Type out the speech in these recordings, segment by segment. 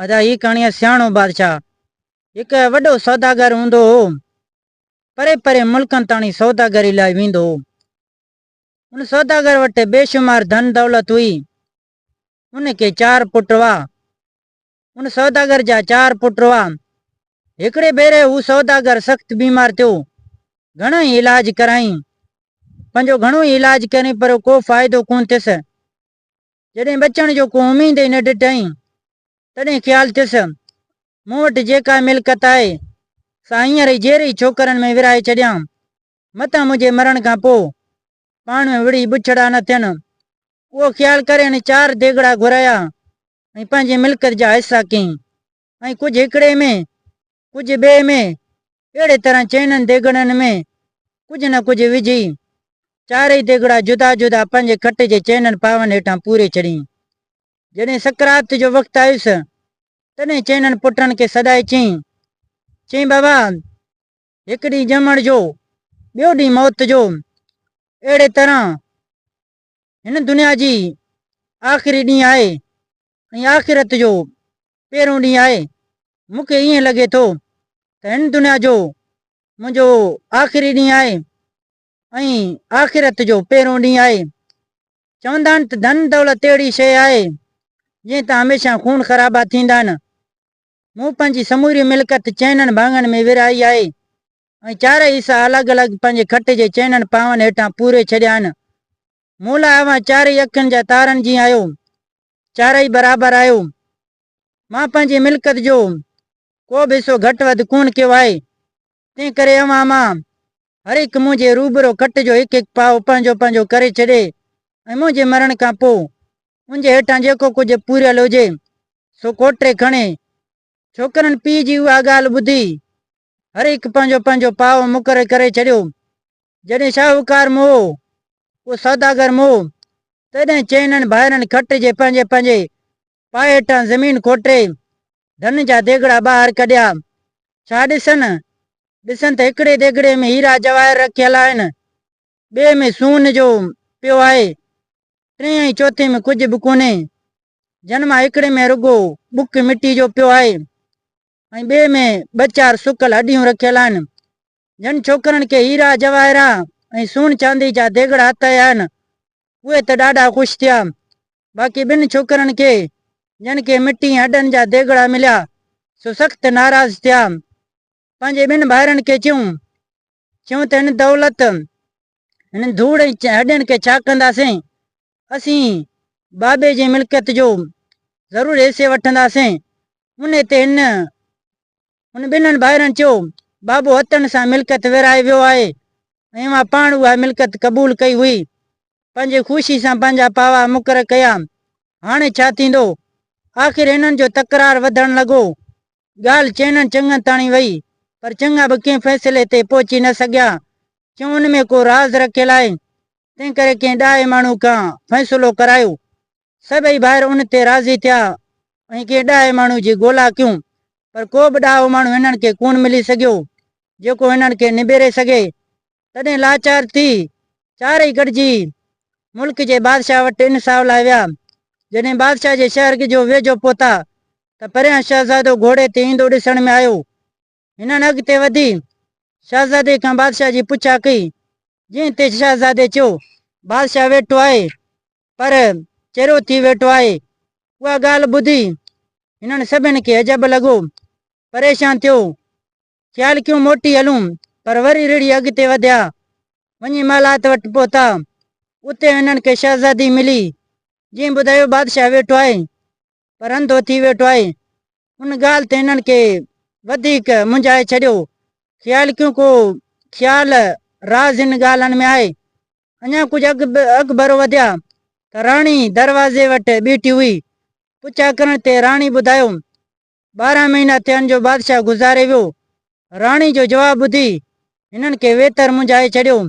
ادا هي ڪهاڻي آهي سياڻو بادشاهه هڪ وڏو سوداگر هوندو هو پري پري ملڪن تاڻي سوداگري لاء ويندو هو ان سوداگر وٽ بيشمار ڌن دولت هئي ان کي چار پٽ هئا ان سوداگر جا چار پٽ هئا هڪڙي ڀيري هو سوداگر سخت بيمار ٿيو گهڻا ئي علاج ڪرايائين پنهنجو گهڻو ئي علاج ڪري پر ڪو فائدو ڪون ٿيس جڏهن بچڻ جو ڪو اميد ئي نه ڏٺائين، تڏهن خيال ٿيس، مون وٽ جيڪا ملڪت آهي، سا هينئر ئي جيري ڇوڪرن ۾ ورهائي ڇڏيان، متان منهنجي مرڻ کان پوء، پاڻ ۾ وڙهي بڇڙا نه ٿين. اهو خيال ڪري هن چار ديڳڙا گهرايا ۽ پنهنجي ملڪت جا حصا ڪيائين. ۽ ڪجهه هڪڙي ۾، ڪجهه ٻئي ۾، اهڙي طرح چئنن ديڳڙن ۾ ڪجهه نه ڪجهه وجهي، چارئي ديڳڙا جدا جدا پنهنجي کٽ جي چئنن پاون هيٺان پوري ڇڏيئي. جڏهن سڪرات جو وقت آيس، تڏهن چئنن پٽن کي سڏائي چيئي، چيئي بابا، هڪ ڏينهن ڄمڻ جو، ٻيو ڏينهن موت جو، اهڙي طرح هن دنيا جي آخري ڏينهن آهي ۽ آخرت جو پهريون ڏينهن آهي. مون کي ائين لڳي ٿو ته هن دنيا جو منهنجو آخري ڏينهن آهي ۽ آخرت جو پهريون ڏينهن آهي. چوندا آهن ته ڌن دولت اهڙي شيء آهي جنهن تان هميشه خون خرابا ٿيندا آهن. مون پنهنجي سموري ملڪت چئنن ڀاڱن ۾ ورهائي آهي. ۽ چارئي حصا الڳ الڳ پنهنجي کٽ جي چئنن پاون هيٺان پوري ڇڏيائين. مون لاء اوهان چارئي اکين جا تارن جيئن آهيو. چارئي برابر آهيو. مان پنهنجي ملڪت جو ڪو به حصو گهٽ وڌ ڪونه ڪيو آهي. تنهن ڪري اوهان مان هر هڪ منهنجي روبرو کٽ جو هڪ هڪ پاء پنهنجو پنهنجو ڪري ڇڏي ۽ منهنجي مرڻ کان پوء ان جي هيٺان جيڪو ڪجهه پوريل هجي سو ڪوٽري کڻي. ڇوڪرن پيء جي اها ڳالهه ٻڌي هر هڪ پنهنجو پنهنجو پاء مقرر ڪري ڇڏيو. جڏهن شاهوڪار موهو پوء سوداگر موهو، تڏهن چئنن ڀائرن کٽ جي پنهنجي پنهنجي پاء هيٺان زمين کوٽي، ڌن جا ديڳڙا ٻاهر ڪڍيا. ڇا ڏسن؟ ڏسن ته هڪڙي ديڳڙي ۾ هيرا جواهر رکيل آهن، ٻئي ۾ سون جو پيو آهي، ٽئين ۽ چوٿين ۾ ڪجهه به ڪونهي، جن مان هڪڙي ۾ رڳو ٻڪ مٽي جو پيو آهي. ۽ ٻئي ۾ ٻه چار سڪل هڏيون رکيل آهن، جن ڇوڪرن کي هيرا جواهرا ۽ سون چاندي جا ديڳڙا هٿ آيا آهن. اهي ته ڏاڍا خوش ٿيا. باقي ٻن ڇوڪرن کي، جن کي مٽي ۽ هڏن جا ديڳڙا مليا، سو سخت ناراض ٿيا. پنهنجي ٻن ڀائرن کي چيون چيون ته هن دولت، هنن ڌوڙ ۽ هڏين کي ڇا ڪنداسين؟ اسين بابي جي ملڪيت جو ضرور حصي وٺنداسين. انهي تي هن هن ٻنهن ڀائرن چيو، بابو هتڻ سان ملڪيت ورهائي ويو آهي ۽ اوهان پاڻ اها ملڪيت قبول ڪئي هئي. پنهنجي خوشي سان پنهنجا پاوا مقرر ڪيا. هاڻي ڇا ٿيندو؟ آخر هنن جو تڪرار وڌڻ لڳو. ڳالهه چئنن چڱن تاڻي وئي، پر چڱا به ڪنهن فيصلي تي پهچي نه سگهيا، ڇونه ان ۾ ڪو راز رکيل آهي، تنهنڪري ڪنهن ڏاهي ماڻهو کان فيصلو ڪرايو. سڀئي ڀائر ان تي راضي ٿيا ۽ ڪنهن ڏاهي ماڻهو جي ڳولا ڪيون، پر ڪو به ڏاهو ماڻهو هنن کي ڪونه ملي سگهيو، جيڪو هنن کي نبيري سگهي، تڏهن لاچار ٿي چارئي گڏجي ملڪ جي بادشاهه وٽ انصاف لاء ويا. جڏهن بادشاهه جي شهر جو ويجهو پهتا ته پريان شهزادو گهوڙي تي ايندو ڏسڻ ۾ آيو. هنن اڳتي وڌي شهزادي کان بادشاهه جي پڇا ڪئي، جنهن تي شهزادي چيو. بادشاهه ويٺو آهي پر چريو ٿي ويٺو آهي. اها ڳالهه ٻڌي هنن سڀن کي عجب لڳو. پريشان ٿيو خيال ڪيو موٽي هلون، پر وري رڙهي اڳتي وڌيا. وڃي مالات وٽ پهتا. اتي هنن کي شهزادي ملي، جنهن ٻڌايو بادشاهه ويٺو آهي، پر انڌو ٿي ويٺو آهي. ان ڳالهه تي هنن کي وڌيڪ منجهائي ڇڏيو. خيال ڪيو ڪو خيال، راز هن ڳالهن ۾ آهي. اڃا ڪجهه اڳڀرو وڌيا ته راڻي دروازي وٽ بيٺي هئي. پڇا ڪرڻ تي راڻي ٻڌايو ٻارهن مهينا ٿين جو بادشاهه گذاري ويو. راڻي جو جواب ٻڌي هنن کي ويتر منجهائي ڇڏيو.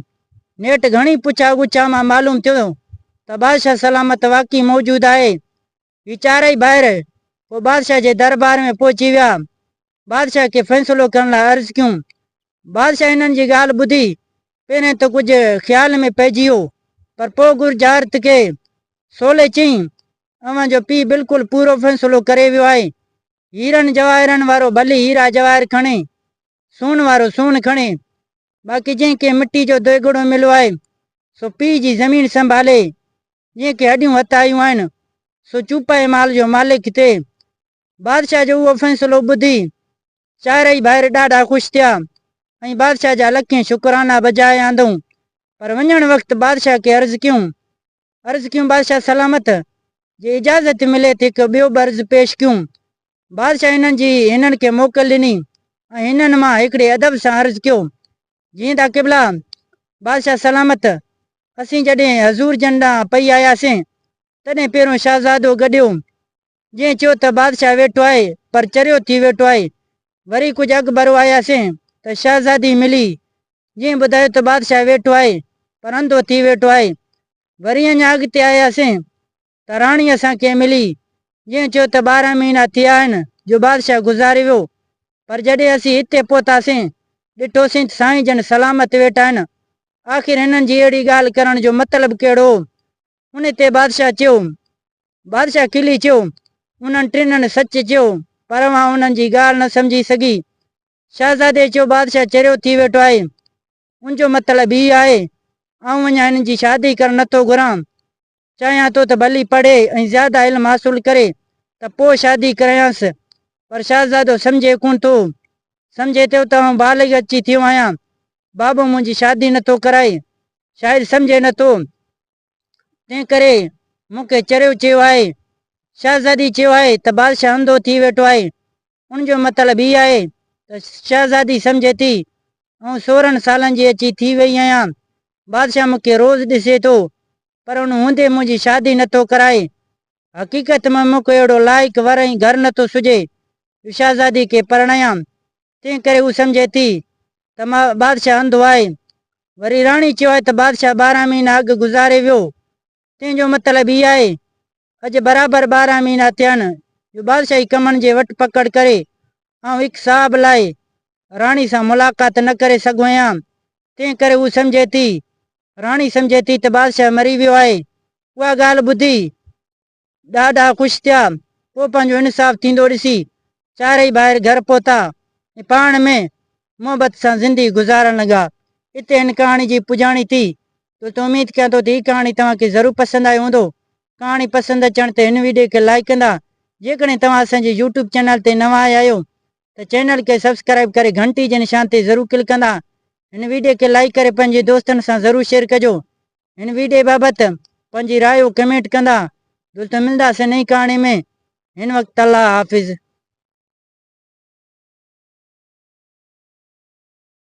نيٺ گهڻي پڇا ڳڇا مان معلوم ٿيو ته بادشاهه سلامت واقعي موجود آهي. هي چارئي ڀائر پوء بادشاهه جي دربار ۾ پهچي ويا. بادشاهه کي فيصلو ڪرڻ لاء عرض ڪيون. بادشاهه هنن جي ڳالهه ٻڌي پهرين ته ڪجهه خيال ۾ پئجي ويو پر پوء گرجارت کي سولي چيائين اوهان جو پيء بلڪل پورو فيصلو ڪري ويو آهي. هيرن جواهرن وارو ڀلي هيرا جواهر کڻي، سون وارو سون کڻي، باقي جنهن کي مٽي جو دوئگڙو مليو آهي، سو پيء جي زمين سنڀالي، جنهن کي هڏيون هٿ آيون آهن، سو چوپائي مال جو مالڪ ٿئي، بادشاهه جو اهو فيصلو ٻڌي چارئي ڀائر ڏاڍا خوش ٿيا ۽ بادشاهه جا لکين شڪرانا بجائي آندئون. پر وڃڻ وقت بادشاهه کي عرض ڪيون عرض ڪيون بادشاهه سلامت جي اجازت ملي ته هڪ ٻيو به عرض پيش ڪيون. بادشاهه هنن جي هنن کي موڪل ڏني ۽ هنن مان هڪڙي ادب سان عرض ڪيو جيئن ته قبلا بادشاهه سلامت اسين جڏهن حضور جن ڏانهن پئي آياسين تڏهن پهريون شهزادو گڏيو جنهن چيو ته بادشاهه ويٺو آهي پر چريو ٿي ويٺو آهي. وري ڪجهه اڳ ڀرو آياسين ته شهزادي ملي، جنهن ٻڌايو ته بادشاهه ويٺو آهي پر انڌو ٿي ويٺو آهي. وري اڃا اڳتي آياسين ته راڻي اسان کي ملي، جنهن چيو ته ٻارهن مهينا ٿيا آهن جو بادشاهه گذاري ويو، پر جڏهن اسين هتي پهتاسين، ڏٺوسين ته سائين جن سلامت ويٺا آهن. آخر هنن جي اهڙي ڳالهه ڪرڻ جو مطلب ڪهڙو هو؟ ان تي بادشاهه چيو بادشاهه کلي چيو، انهن ٽنهن سچ چيو، پر اوهان انهن جي ڳالهه نه سمجهي سگهي. شهزادي چيو، بادشاهه چريو ٿي ويٺو آهي، ان جو مطلب هي آهي، آئون اڃا هنن جي شادي ڪرڻ نه ٿو گهران. چاهيان ٿو ته ڀلي پڙهي ۽ زياده علم حاصل ڪري ته پوء شادي ڪرايانس. پر شهزادو سمجهي ڪونه ٿو. سمجهي ٿو ته آئون بالغ اچي ٿيو آهيان. بابو منهنجي شادي نه ٿو ڪرائي. شايد سمجهي نه ٿو تنهن ڪري مون کي چريو چيو آهي. شهزادي چيو آهي ته بادشاهه انڌو ٿي ويٺو آهي. ان جو مطلب هي آهي ته شهزادي سمجهي ٿي آئون سورهن سالن جي اچي ٿي ويئي آهيان. بادشاهه مون کي روز ڏسي ٿو پر ان هوندي منهنجي شادي نٿو ڪرائي. حقيقت ۾ مون کي اهڙو لائق ور ۽ گهر نه ٿو سجهي. هو شهزادي کي پرڻايام، تنهن ڪري هو سمجهي ٿي ته مان بادشاهه انڌو آهي. وري راڻي چيو آهي ته بادشاهه ٻارهن مهينا اڳ گذاري ويو. تنهن جو مطلب هي آهي، اڄ برابر ٻارهن مهينا ٿيا آهن جو بادشاهي ڪمن جي وٺ پڪڙ ڪري آئون هڪ صاحب لاء راڻي سان ملاقات نه ڪري سگهيو آهيان. تنهن ڪري هو سمجهي ٿي راڻي سمجهي ٿي ته بادشاهه مري ويو آهي. اها ڳالهه ٻڌي ڏاڍا خوش ٿيا. پوء پنهنجو انصاف ٿيندو ڏسي چارئي ڀائر گهر پهتا ۽ پاڻ ۾ محبت سان زندي گذارڻ لڳا. اتي هن ڪهاڻي جي پڄاڻي ٿي. دوستو اميد ڪيان ٿو ته هي ڪهاڻي توهان کي ضرور پسند آئي هوندو. ڪهاڻي پسند اچڻ تي هن ويڊيو کي لائيڪ ڪندا. جيڪڏهن توهان اسان جي يوٽيوب چينل تي نوان آيا آهيو ته چينل کي سبسڪرائيب ڪري گهنٽي جي نشان تي ضرور ڪلڪ ڪندا هن ويڊيو کي لائيڪ ڪري پنهنجي دوستن سان ضرور شيئر ڪجو هن ويڊيو بابت پنهنجي رايو ڪمينٽ ڪندا دوستو ملنداسين نئين ڪهاڻي ۾ هن وقت الله حافظ